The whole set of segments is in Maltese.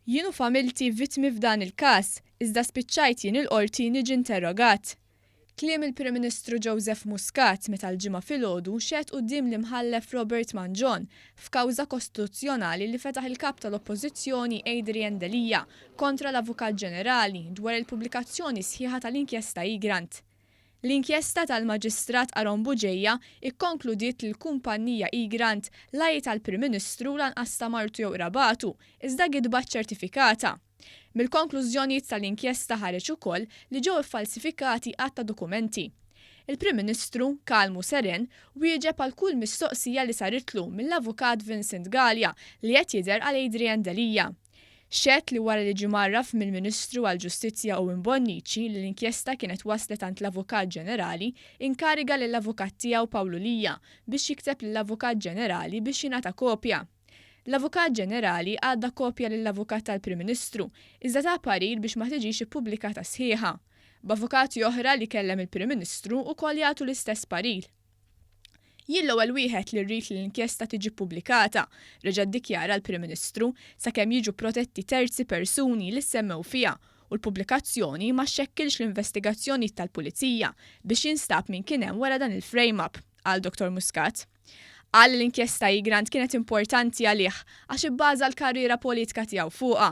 Jien u familti vittmi f'dan il-każ, iżda spiċċajt jien il-Qorti niġi interrogat. Kliem il-Prim Ministru Joseph Muscat meta l-Ġimgħa filgħodu xehed quddiem l-Imħallef Robert Mangion f'kawża kostituzzjonali li fetaħ il-Kap tal-Oppożizzjoni Adrian Delia kontra l-Avukat Ġenerali dwar il-pubblikazzjoni sħiħa tal-Inkjesta Egrant. L-inkjesta tal-Maġistrat Aaron Bugeja kkonkludiet li l-kumpannija Egrant la hi tal-Prim Ministru u lanqas ta' martu jew qrabatu, iżda gidba ċċertifikata. Mill-konklużjonijiet tal-inkjesta ħareġ ukoll li ġew iffalsifikati għadd ta' dokumenti. Il-Prim Ministru, kalm u seren, wieġeb għal kull mistoqsija li saritlu mill-Avukat Vincent Galea li qed jidher għal Adrian Delia. Xehed li wara li ġie mgħarraf mill-Ministru għall-Ġustizzja Owen Bonnici li l-inkjesta kienet waslet għand l-Avukat Ġenerali, inkariga lill-avukat tiegħu Pawlu Lia biex jikteb lill-Avukat Ġenerali biex jingħata kopja. L-Avukat Ġenerali għadda kopja lill-Avukat tal-Prim Ministru, iżda ta parir biex ma tiġix ippubblikata sħiħa, b'avukati oħra li kellem il-Prim Ministru wkoll jagħtu l-istess parir. Jien l-ewwel wieħed li rrid li l-inkjesta tiġi ppubblikata, reġa' ddikjara l-Prim Ministru, sakemm jiġu protetti terzi persuni li ssemmew fiha u l-pubblikazzjoni ma xxekkilx l-investigazzjonijiet tal-Pulizija biex jinstab min kien hemm wara dan il-frame-up, qal Dottor Muscat. Qal li l-inkjesta Egrant kienet importanti għalih għax ibbaża l-karriera politika tiegħu fuqha.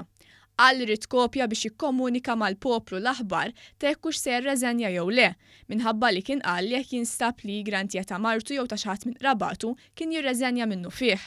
Qal li ried kopja biex jikkomunika mal-poplu l-aħbar ta' jekk hux se jirreżenja jew le, minħabba li kien qal li jekk jinstab li Grant jgħid ta' martu jew ta' xi ħadd minn qrabatu kien jirreżenja minnufih.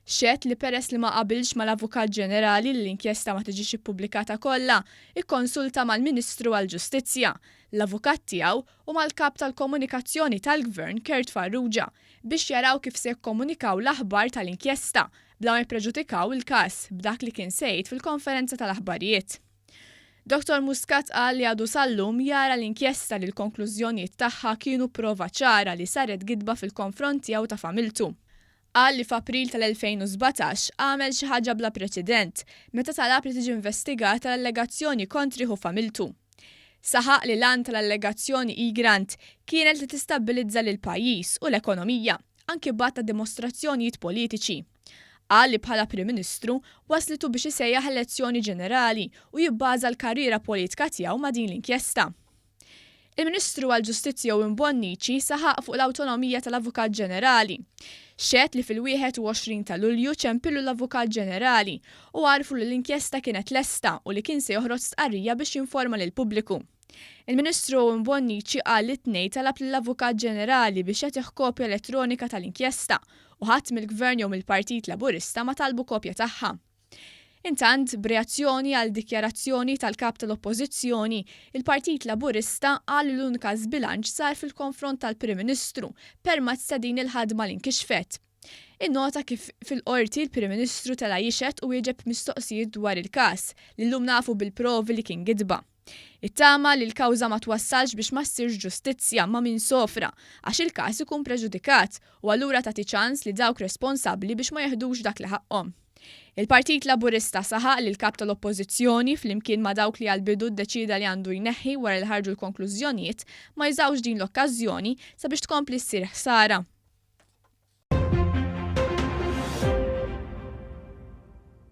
Xehed li peress li ma qabilx mal-Avukat Ġenerali li l-inkjesta ma tiġix ippubblikata kollha, ikkonsulta mal-Ministru għall-Ġustizzja, l-avukat tiegħu u mal-Kap tal-Komunikazzjoni tal-Gvern Kurt Farrugia biex jaraw kif se jikkomunikaw l-aħbar tal-inkjesta bla ma jippreġudikaw il-każ b'dak li kien se jgħid fil-konferenza tal-aħbarijiet. Dottor Muscat qal li għadu sal-lum jara l-inkjesta li l-konklużjonijiet tagħha kienu prova ċara li saret gidba fil-konfront tiegħu ta' familtu. Qal li f'April tal-2017 għamel xi ħaġa bla preċedent meta talab li tiġi investigata l-allegazzjoni kontrih u familtu. Saħaq li l-għan tal-allegazzjoni E-Grant kienet li tistabbilizza lill-pajjiż u l-ekonomija, anki b'għadd ta' dimostrazzjonijiet politiċi. Qal li bħala Prim Ministru wasslitu biex isejjaħ elezzjoni ġenerali u jibbaża l-karriera politka tiegħu ma' din l-inkjesta. Il-Ministru għall-Ġustizzja Owen Bonnici saħaq fuq l-awtonomija tal-Avukat Ġenerali. Xehed li fil-21 ta' Lulju ċempilu l-Avukat Ġenerali u għarrfu li l-inkjesta kienet lesta u li kien se joħroġ stqarrija biex jinforma lill-pubbliku. Il-Ministru Owen Bonnici qal li t-Tnejn talab lill-Avukat Ġenerali biex jagħtih kopja elettronika tal-inkjesta u ħadd mill-Gvern jew mill-Partit Laburista ma talbu kopja tagħha. Intant, b'reazzjoni għal dikjarazzjoni tal-Kap tal-Oppożizzjoni, il-Partit Laburista qal li l-unika żbilanċ sar fil-konfront tal-Prim Ministru permezz ta' din il-ħadma li nkixfet. Innota kif fil-Qorti l-Prim Ministru tela' jixhed u wieġeb mistoqsijiet dwar il-każ li llum nafu bil-provi li kien gidba. It-tama li l-kawża ma twassalx biex ma ssirx ġustizzja ma' min sofra, għax il-każ ikun preġudikat, u allura tagħti ċans li dawk responsabbli biex ma jeħdux dak li ħaqqhom. Il-Partit Laburista saħaq li l-Kap tal-Oppożizzjoni, flimkien ma' dawk li għall-bidu ddeċieda li għandu jneħħi wara li ħarġu l-konklużjonijiet, ma jużawx din l-okkażjoni sabiex tkompli ssir ħsara.